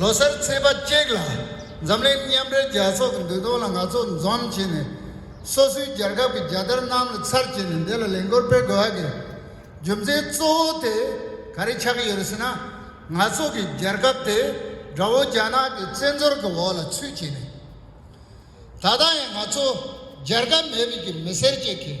ལོ་གསར་ཚེས་པ་གཅིག་ལ་འཛམ་གླིང་མཉམ་འབྲེལ་རྒྱལ་ཚོགས་ཀྱི་འདུ་གཏོང་ལ་ང་ཚོ་འཛོམས་བྱས་ནས། སོ་སོའི་རྒྱལ་ཁབ་ཀྱི་རྒྱལ་དར་གནམ་ལ་ཚར་བཅད་ནས་འདི་ལ་ལས་འགུལ་སྤེལ་དགོས་ཀྱི། རྒྱུ་མཚན་གཙོ་བོ་དེ་ག་རེ་ཆགས་ཀྱི་ཡོད་རེད་ཟེར་ན། ང་ཚོ་གི་རྒྱལ་ཁབ་དེ་དགྲ་བོ་རྒྱ་ནག་གི་བཙན་འཛུལ་གྱི་འོག་ལ་ཚུད་བྱས་ནས། ད་ལྟ་ཡང་ང་ཚོ་རྒྱལ་ཁབ་མེད་པའི་གི་མི་སེར་ཅིག་གིས།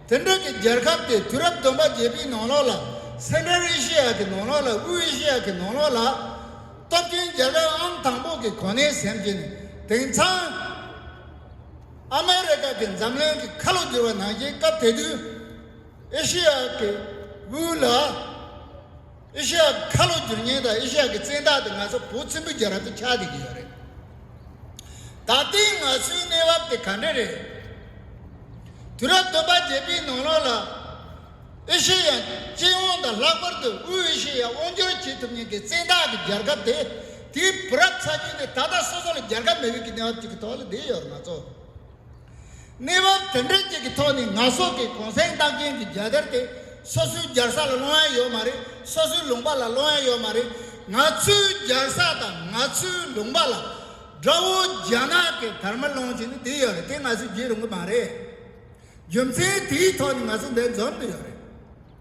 དེང་རབས་ཀྱི་རྒྱལ་ཁབ་དེ་དུས་རབས་བདུན་པ་བརྒྱད་པའི་ནང་ལོགས་ལ Central Asia གི་ནང་ལོགས་ལ་དབུས་ཨེ་ཤེ་ཡ་གི་ནང་ལོགས་ལ། སྟོབས་ཆེན་རྒྱལ་ཁབ་ཨང་དང་པོ་གི་གོ་གནས་ཟིན་ཅིང། དེང་སང། ཨ་མེ་རི་ཀ་གིས་འཛམ་གླིང་གི་ཁ་ལོ་བསྒྱུར་བ་ནང་བཞིན་སྐབས་དེ་དུས་ཨེ་ཤེ་ཡ་གི་དབུས་ལ། ཨེ་ཤེ་ཡ་གི་ཁ་ལོ་སྒྱུར་ཉེན་དང་ཨེ་ཤེ་ཡ་གི་བཙན་བདག་དེ་ང་ཚོ་བོད་བཙན་པོའི་རྒྱལ་རབས་དེ་ཆགས་བསྡད་ཀྱི་ཡོད་རེད། ད་ལྟའི་ང་ཚོའི་གནས་བབ་དེ་ག་འདྲ་རེད། དུས་རབས་བདུན་པ་བརྒྱད་པའི་ནང་ལོགས་ལ། ཨེ་ཤེ་ཡ་སྤྱི་ཡོངས་དང་ལྷག་པར་དུ་དབུས་ཨེ་ཤེ་ཡ་དབང་བསྒྱུར་བྱེད་ཐུབ་ཉེན་གྱི་བཙན་བདག་གི་རྒྱལ་ཁབ་དེ་དེའི་བུ་རབས་ཚ་རྒྱུད་དེ་ད་ལྟ་སོ་སོ་ལ་རྒྱལ་ཁབ་མེད་པའི་གི་གནས་བབ་ཅིག་གི་ཐོག་ལ་བསྡད་ཡོད་རེད་ང་ཚོ། གནས་བབ་དེ་འདྲ་ཅིག་གི་ཐོག་ནས་ང་སོགས་ཀྱི་གུང་སེང་རྟགས་ཅན་གྱི་རྒྱལ་དར་དེ་སོ་སོའི་རྒྱལ་ས་ལ་སློང་ཡ་ཡོད་མ་རེད་སོ་སོའི་ལུང་པ་ལ་སློང་ཡ་ཡོད་མ་རེད་ང་ཚོའི་རྒྱལ་ས་དང་ང་ཚོའི་ལུང་པ་ལ་དགྲ་བོ་རྒྱ་ནག་གི་དར་མ་སློང་བྱེད་ནི་དེ་ཡོད་རེད་དེ་ང་ཚོས་བརྗེད་རུང་གི་མ་རེད་རྒྱུ་མཚན་དེའི་ཐོག་ནས་ང་ཚོ་འདི་འཛོམས་འདི་ཡོད་རེད།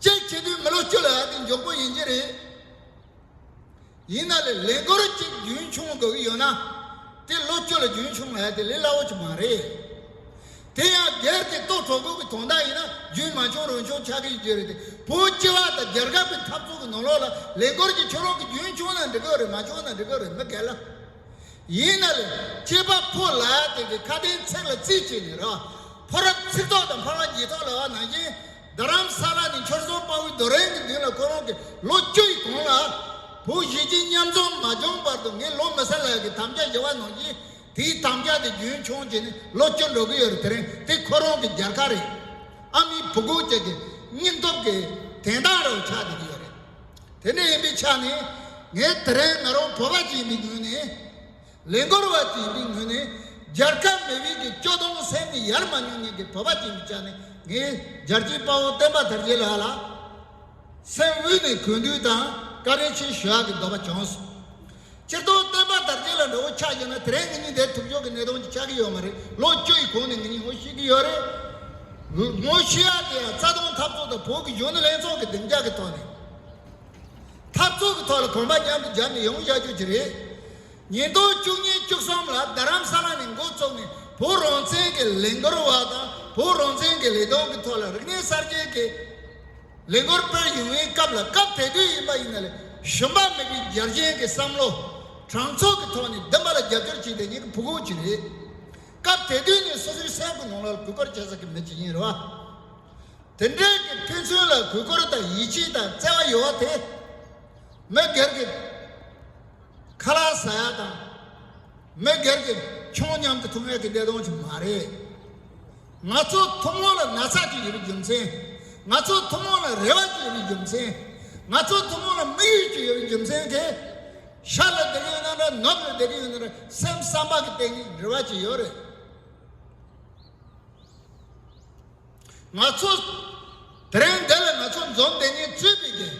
ཅེས་བྱས་དུས་མི་ལོ་བཅུ་ལ་ཡར་ལྟས་མགྱོགས་པོ་ཡིན་གྱི་རེད། ཡིན་ན་ལས་ལས་འགོར་གཅིག་རྒྱུན་ཆུང་དགོས་ཀྱི་ཡོད་ན། དེ་ལོ་བཅུ་ལ་རྒྱུན་ཆུང་ཡ་དེ་ལས་སླ་བོ་ཅིག་མ་རེད། དེ་ཡང་སྒེར་གྱི་ལྟོ་གྲོགས་ཀུན་གྱི་དོན་དག་ཡིན་ན་རྒྱུན་མ་ཆུང་རུང་ཆུང་ཆགས་ཀྱི་ཡོད་རྒྱུ་རེད་དེ་བོད་སྤྱི་བ་དང་རྒྱལ་ཁབ་ཀྱི་འཐབ་རྩོད་ཀྱི་ནང་ལོགས་ལ་ལས་འགོར་གྱི་ཆུ་རོགས་ཀྱི་རྒྱུན་ཆུང་ན་འགྲིག་གི་རེད་མ་ཆུང་ན་འགྲིག་གི་རེད་མི་འགལ། ཡིན་ན་ལས་སྐྱེས་པ་ཕོ་ལ་དེ་ཀའི་ཁ་དན་ཚིག་ལ་རྩིས་བྱས་ནས་ར། ཕོ་རབ་ཚིག་ཐོག་དང་འཕར་བ་ཉིས་ཐོག་ལ་བ་ནང་བཞིན། རྡ་རམ་ས་ལ་ནི་འཁྱོར་ཟོང་དཔའ་བོའི་རྡོ་རིང་གི་མདུན་ལ་ཁོ་རང་གི་ལོ་བཅུ་ཡི་གོང་ལ། བུ་བཞི་གཅིག་མཉམ་འཛོམས་མ་བྱུང་བར་དུ་ངའི་ལོ་མི་ས་ལ་གི་དམ་བཅའ་བཞི་བ་ནང་བཞིན། དེའི་དམ་བཅའ་དེ་རྒྱུན་འཁྱོངས་བྱས་ནས་ལོ་བཅུ་འགྲོ་གི་ཡོད་རེད་དེ་རིང་དེ་ཁོ་རང་གི་རྒྱལ་ཁ་རེད། ཨ་མའི་བུ་གུ་བཅས་ཀྱི་སྙིང་སྟོབས་ཀྱི་དན་རྟགས་རུ་ཆགས་བསྡད་ཀྱི་ཡོད་རེད། དེ་འདྲ་ཡིན་པའི་ཆ་ནས་ངས་དེ་རིང་ང་རང་བོད་པ་ཞིག་ཡིན་པའི་ངོས་ནས། ལས་འགུལ་བ་ཞིག་ཡིན་པའི་ངོས་ནས། རྒྱལ་ཁབ་མི་བཞི་གི་སྐྱོ་གདུང་སེམས་ནས་ཡར་མ་མྱོང་མྱོང་གི་བོད་པ་ཞིག་ཡིན་པའི་ཆ་ནས་ངས་རྒྱལ་གཅེས་དཔའ་བོ་བསྟན་པ་དར་རྒྱས་ལགས་ལ། སེམས་དབུས་ནས་གུས་འདུད་དང་བཀའ་དྲིན་ཆེ་ཞུ་ཡག་གི་འདོད་པ་བྱུང་སོང། སྤྱིར་བཏང་བསྟན་པ་དར་རྒྱས་ལ་འགྲོ་བོ་ཆགས་ཀྱང་ན་དེ་རིང་ངེད་གཉིས་དེར་ཐུག་ཆོག་གི་གནས་སྟངས་ཅིག་ཆགས་ཀྱི་ཡོད་མ་རེད་ལོ་བཅུ་ཡི་གོང་ནས་ངེད་གཉིས་ངོ་ཤེས་ཀྱི་ཡོད་རེད། ངོ་ཤེས་ཡ་དེ་ཡང་རྩ་སྟོང་འཐབ་རྩོད་དང་བོད་ཀྱི་གཞོན་ནུ་ལྷན་ཚོགས་ཀྱི་གདེང་འཇགས་ཀྱི་ཐོག་ནས། འཐབ་རྩོད་ཀྱི་ཐོག་ལ་གོམ་པ་མཉམ་དུ་སྦྱར་ནས་ཡོང་བཞག་རྒྱུ་ཅིག་རེད། ཉིས་སྟོང་བཅུ་གཉིས་བཅུ་གསུམ་ལ་རྡ་རམ་ས་ལ་ནས་འགོ་བཙུགས་ནས་བོད་རང་བཙན་གྱི་ལས་འགུལ་བ་དང་བོད་རང་བཙན་གྱི་ལས་དོན་གྱི་ཐོག་ལ་རིག་གནས་གསར་རྗེན་གྱི་ལས་འགུལ་སྤེལ་ཡུན་བའི་སྐབས་ལ་སྐབས་དེ་དུས་ཡིན་པ་ཡིན་ན་ལས་གཞོན་པ་མེད་པའི་རྒྱལ་གཅེས་ཀྱི་བསམ་བློ། དྲང་ཚུགས་ཀྱི་ཐོག་ནས་བདེན་པ་ལ་རྒྱབ་སྐྱོར་བྱེད་པའི་ཉིད་ཀྱི་བུ་ཁུངས་ཅིག་རེད། སྐབས་དེ་དུས་ནས་སོ་སོའི་སེམས་ཁུངས་ནང་ལ་གུས་བཀུར་བྱེད་ས་ཀྱི་མི་ཅིག་ཡིན་རུང། དེ་འབྲེལ་གྱི་ཕན་ཚུན་ལ་གུས་བཀུར་དང་ཡིད་ཆེས་དང་བརྩེ་བ་ཡོད་བ་དེ། མི་སྒེར་གྱི་ཁ་ལག་ཟ་ཡག་དང། མི་སྒེར་གྱི་ཆུང་སྙམ་དུ་ཐུག་མེད་ཀྱི་བདེ་སྟོང་ཅིག་མ་རེད། ང་ཚོའི་ཐུན་མོང་ལ་ན་ཚ་ཅིག་ཡོད་པའི་རྒྱུ་མཚན། ང་ཚོའི་ཐུན་མོང་ལ་རེ་བ་ཅིག་ཡོད་པའི་རྒྱུ་མཚན། ང་ཚོའི་ཐུན་མོང་ལ་དམིགས་ཡུལ་ཅིག་ཡོད་པའི་རྒྱུ་མཚན་དེ། ཤར་ལ་བསྡད་ཀྱི་ཡོད་ན་འདྲ་ནུབ་ལ་བསྡད་ཀྱི་ཡོད་ན་འདྲ་སེམས་བསམ་པ་གྱི་སྟེང་ནས་རེ་བ་ཅིག་ཡོད་རེད། ང་ཚོ་དེ་རིང་འདི་ལ་ང་ཚོ་འཛོམས་དེ་ནི་རྩོད་པའི་རྒྱལ།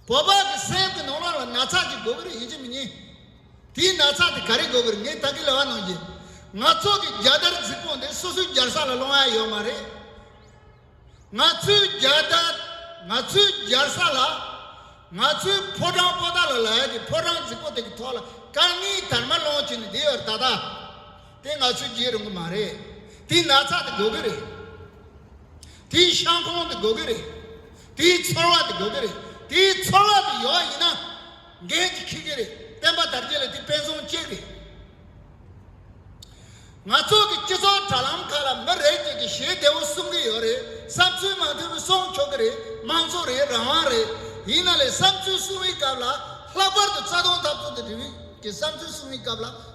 བོད་པ་གི་སེམས་གི་ནང་ན་ལ་ན་ཚ་ཅིག་འགོ་གི་རེད་ཡིན་གཅིག་མི་ཉིན། དེའི་ན་ཚ་དེ་ག་རེ་འགོ་གི་རེད་ངས་ད་གི་ལ་བ་གནང་གི། ང་ཚོ་གི་རྒྱ་དར་རྫིག་པོ་འདི་སོ་སོའི་རྒྱར་ས་ལ་སློང་ཡ་ཡོད་མ་རེད། ང་ཚོའི་རྒྱ་དར་ང་ཚོའི་རྒྱར་ས་ལ། ང་ཚོའི་ཕོ་བྲང་པོ་ཏཱ་ལ་ལ་ཡ་གི་ཕོ་བྲང་རྫིག་པོ་དེ་གི་ཐོག་ལ་དཀར་ངིའི་དར་མ་སློང་གི་ནི་དེའི་བར་ད་ད། དེ་ང་ཚོས་བརྗེད་རུང་གི་མ་རེད། དེའི་ན་ཚ་དེ་དགོས་ཀྱི་རེད། དེའི་ཤང་ཁོངས་དེ་དགོས་ཀྱི་རེད། དེའི་ཚོར་བ་དེ་དགོས་ཀྱི་རེད། དེའི་ཚོར་བ་དེ་ཡོད་ཡིན་ན། འགན་ཅིག་འཁུར་གྱི་རེད། བསྟན་པ་དར་རྒྱས་ལ་དེ་དཔེ་མཚོན་གཅིག་རེད། ང་ཚོ་གི་སྤྱི་ཚོགས་དྲ་ལམ་ཁག་ལ་མི་རེ་གཅིག་གིས་ཞེ་བདེ་བོ་གསུང་གི་ཡོད་རེད། བསམ་ཚུལ་མ་མཐུན་པོ་གསུང་ཆོག་གི་རེད། དམངས་གཙོ་རེད་རང་དབང་རེད། ཡིན་ན་ལེ་བསམ་ཚུལ་གསུང་བའི་སྐབས་ལ། ལྷག་པར་དུ་རྩ་དོན་ཐབས་ཚུལ་དང་འབྲེལ་བའི་བསམ་ཚུལ་གསུང་བའི་སྐབས་ལ།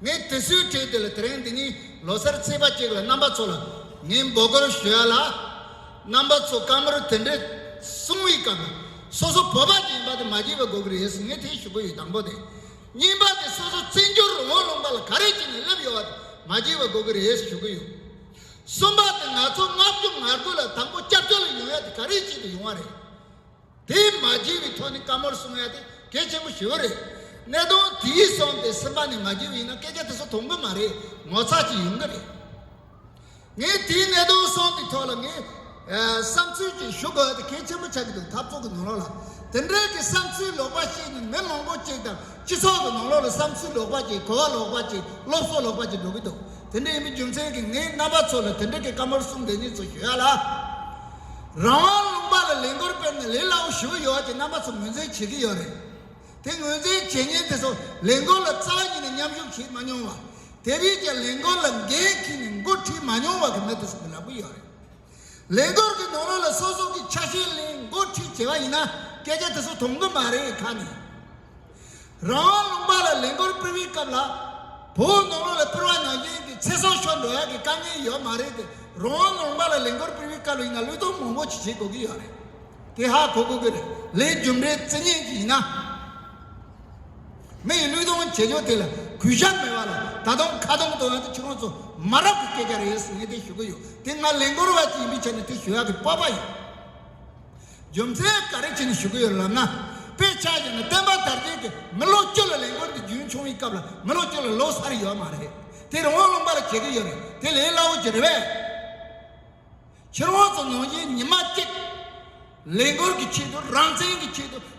ངས་དུས་ཚོད་དྲན་དུས་ལ་དེ་རིང་འདི་ཉིད་ལོ་སར་ཚེས་པ་གཅིག་ལ་རྣམ་པ་ཚོ་ལ་ངས་འབོད་སྐུལ་ཞུ་ཡ་ལ། རྣམ་པ་ཚོ་བཀའ་མོལ་དེ་འདྲའི་གསུང་བའི་སྐབས་ལ་སོ་སོ་བོད་པ་ཞིག་ཡིན་པ་དེ་མ་བརྗེད་པ་དགོས་ཀྱི་རེད་ཟེར་ངས་དེ་ཞུ་གི་ཡོད་དང་པོ་དེ། གཉིས་པ་དེ་སོ་སོ་བཙན་བྱོལ་རུ་འོང་རུང་པ་ལ་ག་རེ་བྱས་ནས་སླེབས་ཡོད་པ་དེ་མ་བརྗེད་པ་དགོས་ཀྱི་རེད་ཟེར་ཞུ་གི་ཡོད། གསུམ་པ་དེ་ང་ཚོ་མངགས་བཅོལ་ངར་སྒོས་ལ་དང་པོ་སྐྱབས་བཅོལ་ལ་ཡོང་ཡ་དེ་ག་རེ་བྱས་ཏེ་ཡོང་བ་རེད། དེ་མ་བགྱིས་པའི་ཐོག་ནས་བཀའ་མོལ་གསུང་ཡ་དེ་གལ་ཆེན་པོ་ཞིག་རེད། གནད་དོན་དེའི་སོང་སྟེ་སེམས་པ་ནས་མ་བགྱིས་པ་ཡིན་ན་སྐད་ཆ་དེ་ཚོ་ཐོང་གི་མ་རེད་ངོ་ཚ་གཅིག་ཡོང་གི་རེད། ངས་དེའི་གནད་དོན་སོང་པའི་ཐོག་ལ་ངས་བསམ་ཚུལ་གཅིག་ཞུ་དགོས་ཡ་དེ་གལ་ཆེན་པོ་ཆགས་ཀྱི་འདུག་འཐབ་ཚོགས་ཀྱི་ནང་ལོགས་ལ་དེ་འདྲའི་གི་བསམ་ཚུལ་ལོག་པ་བཤད་ནས་མི་མང་པོ་གཅིག་དང་སྤྱི་ཚོགས་ཀྱི་ནང་ལོགས་ལ་བསམ་ཚུལ་ལོག་པ་གཅིག་གོ་བ་ལོག་པ་གཅིག་སློབ་གསོ་ལོག་པ་གཅིག་འགྲོ་གི་འདུག་དེ་འདྲ་ཡིན་པའི་རྒྱུ་མཚན་གྱིས་ངས་རྣམ་པ་ཚོ་ལ་དེ་འདྲའི་གི་བཀའ་མོལ་གསུང་འདི་གཉིས་ཚོ་ཞུ་ཡ་ལ། རང་དབང་ལུང་པ་ལ་ལས་འགུལ་སྤེལ་ནས་ལས་སླ་བོ་ཞུ་གི་ཡོད་ཅེས་རྣམ་པ་ཚོ་ངོས་འཛིན་བྱེད་ཀྱི་ཡོད་རེད། དེ་ངོས་འཛིན་བྱེད་ཉིན་དེ་ཚོ་ལས་འགུལ་ལ་རྩ་བ་ཉིད་ནས་མཉམ་ཞུགས་བྱས་མ་མྱོང་ལ། དེ་རིང་ཀྱང་ལས་འགུལ་ལ་འགན་འཁྱེར་ནས་མགོ་ཁྲིད་མ་མྱོང་བ་གི་མི་དེ་ཚོ་གི་ལབ་གི་ཡོད་རེད། ལས་འགུལ་གི་ནང་རོལ་ལ་སོ་སོ་གི་ཆ་ཤས་གླེང་མགོ་ཁྲིད་བྱས་པ་ཡིན་ན་སྐད་ཆ་དེ་ཚོ་དོང་གི་མ་རེད་ཁ་ནས། རང་དབང་ལུང་པ་ལ་ལས་འགུལ་སྤེལ་བའི་སྐབས་ལ། བོད་ནང་ལོགས་ལ་སྤེལ་བ་ནང་བཞིན་གྱི་ཚེ་སྲོག་ཤོར་འགྲོ་ཡག་གི་དཀའ་ངལ་ཡོད་མ་རེད་དེ་རང་དབང་ལུང་པ་ལ་ལས་འགུལ་སྤེལ་བའི་སྐབས་ལ་ཡིན་ན་ལུས་སྟོབས་མང་པོ་ཞིག་བྱེད་དགོས་ཀྱི་ཡོད་རེད། དེ་ཧ་གོ་དགོས་ཀྱི་རེད་ལས་རྒྱུ་འབྲས་བརྩི་ཉན་གྱི་ཡིན་ན། མི་ཡི་ལུས་སྟོང་བྱེད་ཕྱོགས་དེ་ལ་གུས་ཞབས་མེད་པ་ལ་ད་དུང་ཁ་རྡུང་དང་ཡང་ན་ཁྱེད་རང་ཚོ་མ་རབས་ཀྱི་སྐད་ཆ་རེད་ཟེར་ངས་དེ་ཞུ་གི་ཡོད་དེ་ང་ལས་འགུལ་བ་ཞིག་ཡིན་པའི་ཆ་ནས་དེ་ཞུ་ཡག་གི་སྤོབས་པ་ཡོད། རྒྱུ་མཚན་ག་རེ་བྱས་ནས་ཞུ་གི་ཡོད་ལབ་ན། དཔེ་ཆ་ཡིན་ན་བསྟན་པ་དར་རྒྱས་ཀྱི་མི་ལོ་བཅུ་ལ་ལས་འགུལ་འདི་རྒྱུན་འཁྱོངས་ཡིན་སྐབས་ལ་མི་ལོ་བཅུ་ལ་ལོ་སར་ཡོད་མ་རེད། དེར་དབང་ལུང་པར་བྱེད་ཀྱི་ཡོད་རེད་དེ་ལས་སླ་བོ་གྱི་རེད་བས། ཕྱིར་དབང་ཚོ་ནང་བཞིན་ཉི་མ་གཅིག། ལས་འགུལ་གྱི་ཆེད་དུ་རང་བཙན་གྱི་ཆེད་དུ།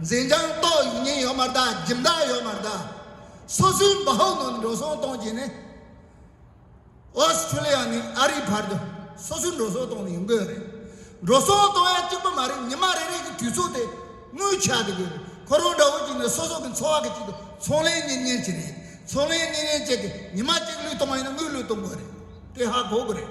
འཛིན་རྒྱང་རྟོགས་ཡིན་ཉེན་ཡོད་མ་གཏའ་སྒྲིབ་མདའ་ཡོད་མ་གཏའ། སོ་སོའི་འབ་ཧོག་ནང་འགྲོ་སོང་གཏོང་གྱིན་ནི། Australia ནས་ཨ་རིའི་བར་དུ་སོ་སོའི་འགྲོ་སོང་གཏོང་ནི་ཡོང་གི་ཡོད་རེད། འགྲོ་སོང་གཏོང་ཡ་གཅིག་པུ་མ་རེད་ཉི་མ་རེ་རེ་གི་དུས་ཚོད་དེ་དངུལ་ཆག་གི་ཡོད་རེད། ཁོ་རང་འདྲ་བོ་གཅིག་ནི་སོ་སོ་གི་འཚོ་བ་གི་ཆེད་དུ་ཚོང་ལས་གཉེར་ཉེན་གྱི་རེད། ཚོང་ལས་གཉེར་ཉེན་བྱས་ཏེ་ཉི་མ་གཅིག་ལུས་གཏོང་བ་ཡིན་ན་དངུལ་ལུས་གཏོང་དགོས་རེད། དེ་ཧ་གོ་གི་རེད།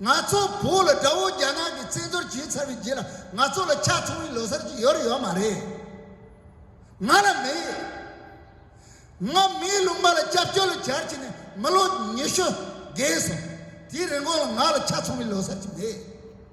ང་ཚོ་བོད་ལ་དགྲ་བོ་རྒྱ་ནག་གི་བཙན་འཛུལ་བྱས་ཚར་བའི་རྗེས་ལ་ང་ཚོ་ལ་ཆ་ཚང་བའི་ལོ་སར་ཅིག་ཡོད་རེད་ཡོད་མ་རེད། ང་ལ་མེད། ང་མིའི་ལུང་པ་ལ་སྐྱབས་བཅོལ་ལོ་བརྒྱར་ཕྱིན་ནས་མི་ལོ་ཉི་ཤུ་བརྒལ་སོང། དེའི་རིན་གོང་ལ་ང་ལ་ཆ་ཚང་བའི་ལོ་སར་ཅིག་མེད།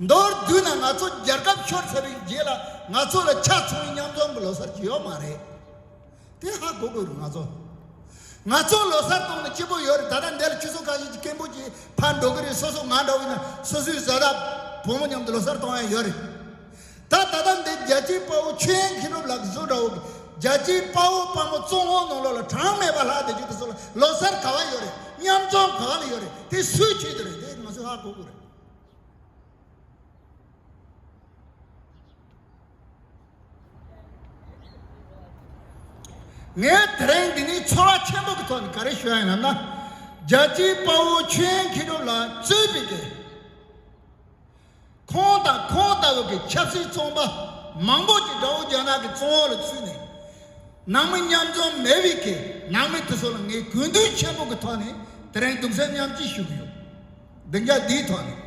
མདོར་བསྡུས་ན་ང་ཚོ་རྒྱལ་ཁབ་ཤོར་ཚར་བའི་རྗེས་ལ་ང་ཚོ་ལ་ཆ་ཚང་བའི་མཉམ་འཛོམས་ཀྱི་ལོ་སར་ཅི་ཡོད་མ་རེད། དེ་ཧ་གོ་དགོས་རེད་ང་ཚོ། ང་ཚོ་ལོ་སར་གཏོང་ན་སྐྱིད་པོ་ཡོད་རེད་ད་ལྟ་འདས་ལ་ཁྱི་སོ་ཁ་ཤས་ཀྱིས་སྐད་འབོད་ཀྱིས་ཕར་འགྲོ་གི་རེད་སོ་སོ་ང་འདྲ་བོ་ཡིན་ན་སོ་སོའི་བཟའ་ཟླ་བུ་མོ་མཉམ་དུ་ལོ་སར་གཏོང་ཡ་ཡོད་རེད། ད་ད་ལྟ་འདི་རྒྱལ་སྤྱིའི་དཔའ་བོ་ཆོས་དབྱིངས་ཧེ་རུ་ལགས་གཟུགས་འདྲ་བོ། རྒྱལ་སྤྱིའི་དཔའ་བོ་དཔའ་མོ་གཙོ་བོ་ནོར་ལོག་ལ་གྲངས་མེད་པ་ལྷག་འདི་བརྒྱུད་དུ་སོང་ལ་ལོ་སར་ག་བ་ཡོད་རེད་མཉམ་འཛོམས་ག་ལ་ཡོད་རེད་དེ་སུའི་ཆེད་དུ་རེད་དེ་ང་ཚོའི་ཧ་གོ་གོ་རེད། ངས་དེ་རིང་འདི་ནས་ཚོར་བ་ཆེན་པོ་གི་ཐོག་ནས་ག་རེ་ཞུ་ཡ་ཡིན་ནམ་ན། རྒྱལ་སྤྱིའི་དཔའ་བོ་ཆོས་དབྱིངས་ཧེ་རུ་ལགས་གཙོས་པའི་དགེ། ཁོང་དང་ཁོང་ལྟ་བུ་གྱི་ཆབ་སྲིད་ཚོང་པ་མང་པོ་ཞིག་དགྲ་བོ་རྒྱ་ནག་གི་བཙོན་འོག་ལ་ཚུད་ནས། ནང་མི་མཉམ་འཛོམས་མེད་པའི་ཁེ་ནང་མི་དེ་ཚོ་ལ་ངས་གུས་འདུད་ཆེན་པོ་གི་ཐོག་ནས་དེ་རིང་གདུང་སེམས་མཉམ་སྐྱེ་ཞུ་གི་ཡོད། བདེ་འཇགས་འདིའི་ཐོག་ནས།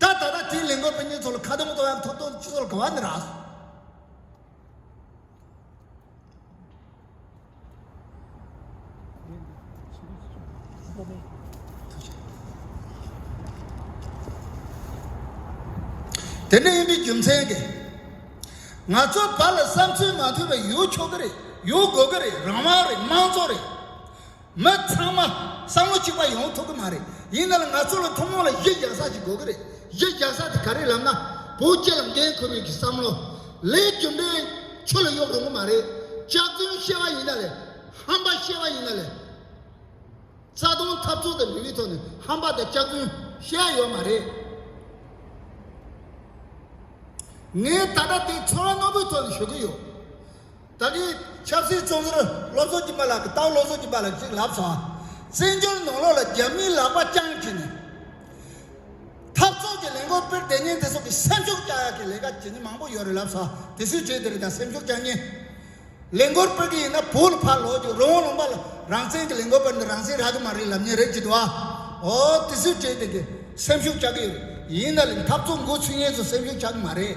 ད་ད་ལྟ་དེའི་ལས་འགུལ་སྤེལ་མཁན་ཚོ་ལ་ཁ་རྡུང་བཏང་ཡང་ཐོབ་ཐང་སྤྱི་ཚོགས་ལ་གང་བ་ནི་རགས་སོ། དེ་འདྲ་ཡིན་པའི་རྒྱུ་མཚན་གྱིས། ང་ཚོ་བར་ལ་བསམ་ཚུལ་མ་མཐུན་པ་ཡོད་ཆོག་གི་རེད་ཡོད་དགོས་ཀྱི་རེད་རང་དབང་རེད་དམངས་གཙོ་རེད། མི་ཚང་མ་བསམ་བློ་གཅིག་པ་ཡོང་ཐུབ་ཀྱི་མ་རེད། ཡིན་ནའང་ང་ཚོ་ལ་ཐུན་མོང་ལ་གཞི་རྒྱག་ས་ཞིག་དགོས་ཀྱི་རེད། གཞི་རྒྱག་ས་དེ་ག་རེད་ལབ་ན། བོད་སྤྱི་ལ་འགན་འཁུར་བའི་གི་བསམ་བློ། ལས་རྒྱུ་འབྲས། ཆུ་ལ་གཡོག་རུང་གི་མ་རེད། ལྕགས་རྫུན་བཤད་པ་ཡིན་ན་ལས། ཧམ་པ་བཤད་པ་ཡིན་ན་ལས། རྩ་དོན་འཐབ་རྩོད་དང་འབྲེལ་བའི་ཐོག་ནས་ཧམ་པ་དང་ལྕགས་རྫུན་བཤད་ཡ་ཡོད་མ་རེད། ངས་ད་ལྟ་དེ་ཚོར་བ་རྣོ་པོའི་ཐོག་ནས་ཞུ་གི་ཡོད། ད་གིན་ཆབ་སྲིད་ཅུང་ཟུར་སློབ་གསོ་གྱིན་པ་ལ་གི་ཏའུ་སློབ་གསོ་གྱིན་པ་ལ་ཅིག་ལབ་སོང། བཙན་བྱོལ་ནང་ལོག་ལ་རྒྱ་མིའི་ལག་པ་བརྐྱངས་གྱིན། འཐབ་ཚོགས་ཀྱི་ལས་འགོ་སྤེར་དེ་ཉིན་དེ་སོགས་ཀྱི་སེམས་ཤུགས་རྐྱ་ཡག་གི་ལས་ཀ་གྱིན་ནི་མང་པོ་ཡོད་རེད་ལབ་སོང་དེ་སུས་བྱེད་དེ་རེད་ད་སེམས་ཤུགས་རྐྱ་ཉིན། ལས་འགོར་སྤེར་གི་ཡིན་ན་བོད་ལ་ཕར་ལོག་གྱིན་རོང་བོ་ལུང་པ་ལ་རང་བཙན་གྱི་ལས་འགོ་སྤེར་འདི་རང་བཙན་རག་གི་མ་རེད་ལབ་ཉིན་རེད་ཀྱི་འདུག་ཨ། ཨོ་དེ་སུས་བྱེད་དེ་གི་སེམས་ཤུགས་རྐྱ་གི་ཡོད། ཡིན་ན་ལི་འཐབ་ཚོགས་འགོ་ཚུད་ཉིན་སུ་སེམས་ཤུགས་རྐྱ་གི་མ་རེད།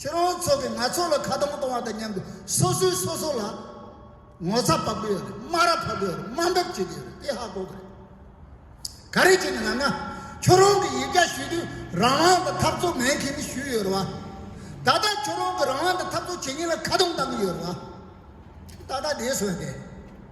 ཁྱེད་རང་ཚོ་གིས་ང་ཚོ་ལ་ཁ་རྡུང་གཏོང་བ་དང་མཉམ་དུ་སོ་སོས་སོ་སོ་ལ་ངོ་ཚ་བབ་ཀྱི་ཡོད་རེད་སྨ་ར་ཕབ་ཀྱི་ཡོད་རེད་དམའ་འབེབས་བྱེད་ཀྱི་ཡོད་རེད་དེ་ཧ་གོ་གི་རེད་ག་རེ་བྱས་ནས་ང་ང་ཁྱོད་རང་གི་ཡིག་སྐྱ་ཞུས་དུས་རང་དབང་དང་འཐབ་རྩོད་མེད་མཁན་ཞུས་ཡོད་རེད་བ། ད་ལྟ་ཁྱོད་རང་གི་རང་དབང་དང་འཐབ་རྩོད་བྱེད་མཁན་ལ་ཁ་རྡུང་བཏང་གི་ཡོད་རེད་བ། ད་ལྟ་དེའི་སྲོལ་འདི།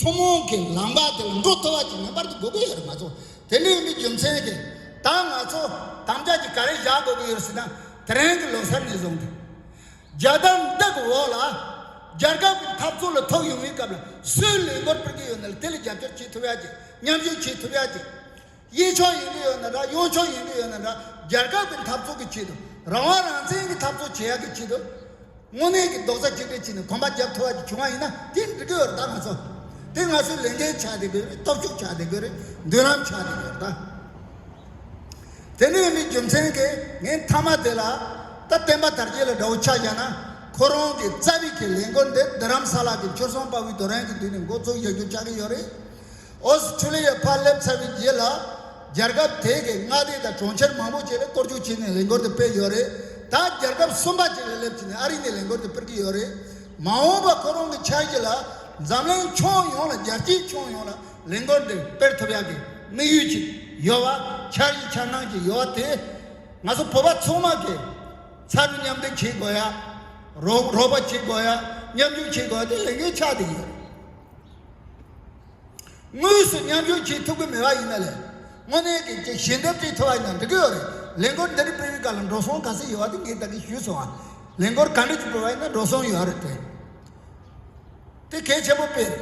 ཐུན་མོང་གི་ལམ་ཁ་དེ་ལ་འགྲོ་ཐུབ་པ་ཅིག་ངེས་པར་དུ་དགོས་ཀྱི་ཡོད་རེད་མ་གཏོགས་དེ་འདྲའི་ཡོད་མེད་རྒྱུ་མཚན་གྱིས་ད་ང་ཚོ་དམ་བཅའ་གཅིག་ག་རེ་བཞག་དགོས་ཀྱི་ཡོད་སྲིད་ན་དེ་རིང་གི་ལོ་སར་ནས་བཟུང་སྟེ། རྒྱལ་དར་འདི་གི་འོག་ལ། རྒྱལ་ཁབ་ཀྱི་འཐབ་རྩོད་ལ་ཐུག་ཡོང་བའི་སྐབས་ལ་སུའི་ལས་འགོར་སྤེལ་གྱི་ཡོད་ན་དེ་ལ་རྒྱབ་སྐྱོར་བྱེད་ཐུབ་ཡ་ཅིག་མཉམ་ཞུགས་བྱེད་ཐུབ་ཡ་ཅིག། གཡས་ཕྱོགས་ཡིན་གྱི་ཡོད་ན་འདྲ་གཡོན་ཕྱོགས་ཡིན་གྱི་ཡོད་ན་འདྲ་རྒྱལ་ཁབ་ཀྱི་འཐབ་རྩོད་ཀྱི་ཆེད་དུ་རང་དབང་རང་བཙན་གྱི་འཐབ་རྩོད་བྱེད་ཡག་གི་ཆེད་དུ། དངོས་གནས་ཀྱི་རྡོག་རྩ་གཅིག་སྒྲིལ་བྱས་ནས་གོམ་པ་རྒྱབ་ཐུབ་པ་ཞིག་བྱུང་བ་ཡིན་ན་དེ་འགྲིག་གི་ཡོད་རེད་ད་ང་ཚོ། དེ་ང་ཚོས་ལས་འགན་བྱ་བསྡད་དགོས་རེད་སྟོབས་ཤུགས་བྱ་བསྡད་དགོས་རེད་མདུན་ལམ་བྱ་བསྡད་དགོས་རེད་ད། དེ་འདྲ་ཡིན་པའི་རྒྱུ་མཚན་གྱིས་ངས་མཐའ་མ་དེ་ལ་ད་བསྟན་པ་དར་རྒྱས་ལ་དགྲ་བོ་ཆགས་བཞག་ན་ཁོ་རང་གི་རྩ་བའི་ཁས་ལེན་སྒོར་འདི་བདུན་རམ་ས་ལག་གི་སྤྱོད་བཟང་དཔའ་བོའི་དོ་རན་གྱི་མདུན་ནས་མགོ་བཙུགས་བཞག་རྒྱུ་ཆགས་ཀྱི་ཡོད་རེད། ཨོ་སི་ཁྲུ་ལི་ཡའི་ཕར་སླེབས་ཚར་བའི་རྗེས་ལ། རྒྱལ་ཁབ་དེ་གའི་མངའ་སྡེ་དང་གྲོང་ཁྱེར་མང་པོ་བཅས་ལ་སྐོར་སྐྱོད་བྱས་ནས་ལས་འགོར་དུ་སྤེལ་ཡོད་རེད། ད་རྒྱལ་ཁབ་གསུམ་པ་བཅས་ལ་སླེབས་ཚུན་ནས་ཨ་རི་ནས་ལས་འགོར་དུ་སྤེལ་གྱི་ཡོད་རེད། མ་འོངས་པར་ཁོ་རང་གི་འཆར་གཞི་ལ། འཛམ་གླིང་ཕྱོགས་ཡོངས་ལ་རྒྱལ་སྤྱིའི་ཕྱོགས་ཡོངས་ལ་ལས་འགོར་འདི་སྤེལ་ཐུབ་ཡག་གི་དམིགས་ཡུལ་ཅིག་ཡོད་པ། འཆར་གཞི་འཆར་སྣང་ཅིག་ཡོད་པ་དེ། ང་ཚོ་བོད་པ་ཚང་མ་གིས་ཚ་རུ་མཉམ་འདུས་བྱེད་དགོས་ཡ། རོགས་པ་བྱེད་དགོས་ཡ། མཉམ་འཇུག་བྱེད་དགོས་ཡ་དེ་ལས་འགན་ཆགས་བསྡད་ཡོད། དངོས་སུ་མཉམ་ཞུགས་བྱེད་ཐུབ་ཀྱི་མེད་པ་ཡིན་ན་ལས་དངོས་གནས་ཀྱི་དགེ་བཤེས་འདེབས་འབྲེལ་ཐོབ་པ་ཡང་འགྲིག་གི་ཡོད་རེད་ལས་འགོར་འདི་རིགས་སྤེལ་བའི་སྐབས་ལ་འགྲོ་སོང་ག་ཚད་ཡོད་པ་དེ་ངས་བདག་གིས་ཞུས་སོང་ང་ལས་འགོར་ག་འདྲ་ཞིག་སྤེལ་བ་ཡིན་ན་འགྲོ་སོང་ཡོད་རེད་དེ་དེ་གལ་ཆེན་པོ་སྤེལ་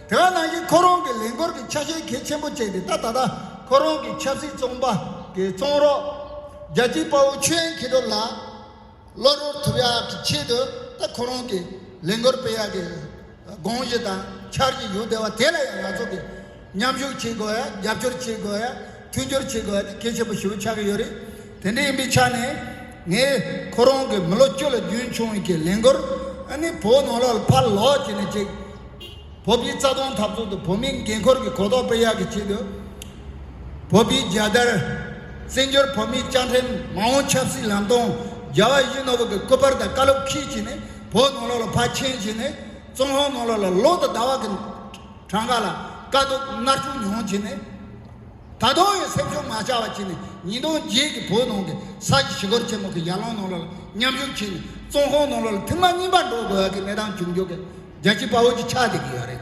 དེ་བ་ནང་བཞིན་ཁོ་རང་གི་ལས་འགོར་གྱི་ཆ་ཤས་གལ་ཆེན་པོ་བཅས་དེ་ད་ད་ལྟ་ཁོ་རང་གི་ཆབ་སྲིད་བཙོང་པ་གི་བཙོང་རོགས་རྒྱལ་སྤྱིའི་དཔའ་བོ་ཆོས་དབྱིངས་ཁྱེད་དོ་ལགས། བློ་རོལ་ཐུབ་ཡག་གི་ཆེད་དུ་ད་ཁོ་རང་གི་ལས་འགུལ་སྤེལ་ཡག་གི་དགོངས་གཞི་དང་འཆར་གཞི་ཡོད་བསྡད་བ་དེ་ལ་ཡང་ང་ཚོ་གི་མཉམ་ཞུགས་བྱེད་དགོས་ཡ་རྒྱབ་སྐྱོར་བྱེད་དགོས་ཡ་མཐུན་འགྱུར་བྱེད་དགོས་ཡ་དེ་གལ་ཆེན་པོ་ཞིག་ཡིན་ཆགས་ཀྱི་ཡོད་རེད་དེ་འདྲ་ཡིན་པའི་ཆ་ནས་ངས་ཁོ་རང་གི་མི་ལོ་བཅུ་ལ་རྒྱུན་བྱུང་བའི་གི་ལས་འགུལ་ནི་བོད་ནང་ལ་ཕར་ལོག་བྱས་ནས་ཅིག་བོད་པའི་རྩ་དོན་འཐབ་རྩོད་དུ་བོད་མིའི་འགན་ཁུར་གི་གོ་རྟོགས་སྤེལ་ཡག་གི་ཆེད་དུ། བོད་པའི་རྒྱལ་དར། བཙན་བྱོལ་བོད་མིའི་སྤྱང་ཕྲེང་མ་འོངས་ཆབ་སྲིད་ལམ་སྟོང་རྒྱལ་བ་བཞི་ནོར་བུ་གི་སྐུ་པར་དང་བཀའ་སློབ་ཁྲིད་བྱས་ནས་བོད་ནང་ལོགས་ལ་ཕར་ཕྱིན་བྱས་ནས་ཙོང་ཧོང་ནང་ལོགས་ལ་ལོག་ཏུ་ཟླ་བ་གི་གྲངས་ཀ་ལ་དཀའ་སྡུག་མནར་གཅོད་མྱོང་བྱས་ནས། ད་དུང་ཡང་སེམས་ཆུང་མ་བྱ་བ་བྱས་ནས་ཉིས་སྟོང་བརྒྱད་ཀྱི་བོད་ནང་གི་ས་ཆ་ཞི་རྒོལ་ཆེན་མོ་གི་ཡར་ལངས་ནང་ལོགས་ལ་མཉམ་ཞུགས་བྱས་ནས་ཙོང་ཧོང་ནང་ལོགས་ལ་ཐེངས་མ་གཉིས་པ་འགྲོ་དགོས་ཡག་གི་གནས་སྟངས་བྱུང་འཇུག་གི་རྒྱལ་སྤྱི་དཔའ་བོ་གྱི་ཆགས་བསྡད་ཀྱི་ཡོད་རེད།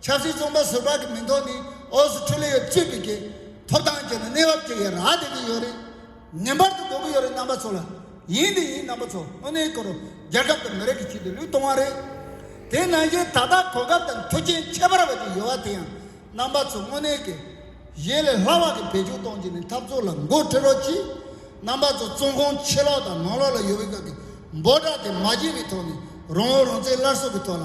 ཆབ་སྲིད་བཙོན་པ་ཟུར་པ་གི་མིང་ཐོག་ནས་ཨོ་སི་ཁྲུ་ལི་ཡའི་ཅི་ཕིག་གི་ཐོབ་ཐང་སྤྱད་ནས་གནས་བབ་དེ་ཡི་རག་བསྡད་ཀྱི་ཡོད་རེད། ངན་པར་དུ་འགོག་གི་ཡོད་རེད་རྣམ་པ་ཚོ་ལ། ཡིན་དེ་ཡིན་རྣམ་པ་ཚོ་དངོས་གནས་གོ་རོ། རྒྱལ་ཁབ་དང་མི་རིགས་ཀྱི་ཆེད་དུ་ལུས་གཏོང་བ་རེད། དེ་ནང་བཞིན་ད་ལྟ་གོ་སྐབས་དང་མཐུ་རྐྱེན་ཁྱད་པར་བ་ཅིག་ཡོད་བ་དེ་ཡང་རྣམ་པ་ཚོ་དངོས་གནས་ཀྱི། གཞན་ལས་ལྷག་བ་གི་བེད་སྤྱོད་གཏོང་རྒྱུ་ནི་འཐབ་རྩོད་ལ་འགོ་ཁྲིད་རོགས་གྱིས། རྣམ་པ་ཚོ་བཙོན་ཁང་ཕྱི་ལོགས་དང་ནང་ལོགས་ལ་ཡོད་བའི་སྐབས་ཀྱི་འབོད་སྒྲ་དེ་མ་བརྗེད་པའི་ཐོག་ནས་རང་བོད་རང་བཙན་སླར་གསོ་གི་ཐོག་ལ།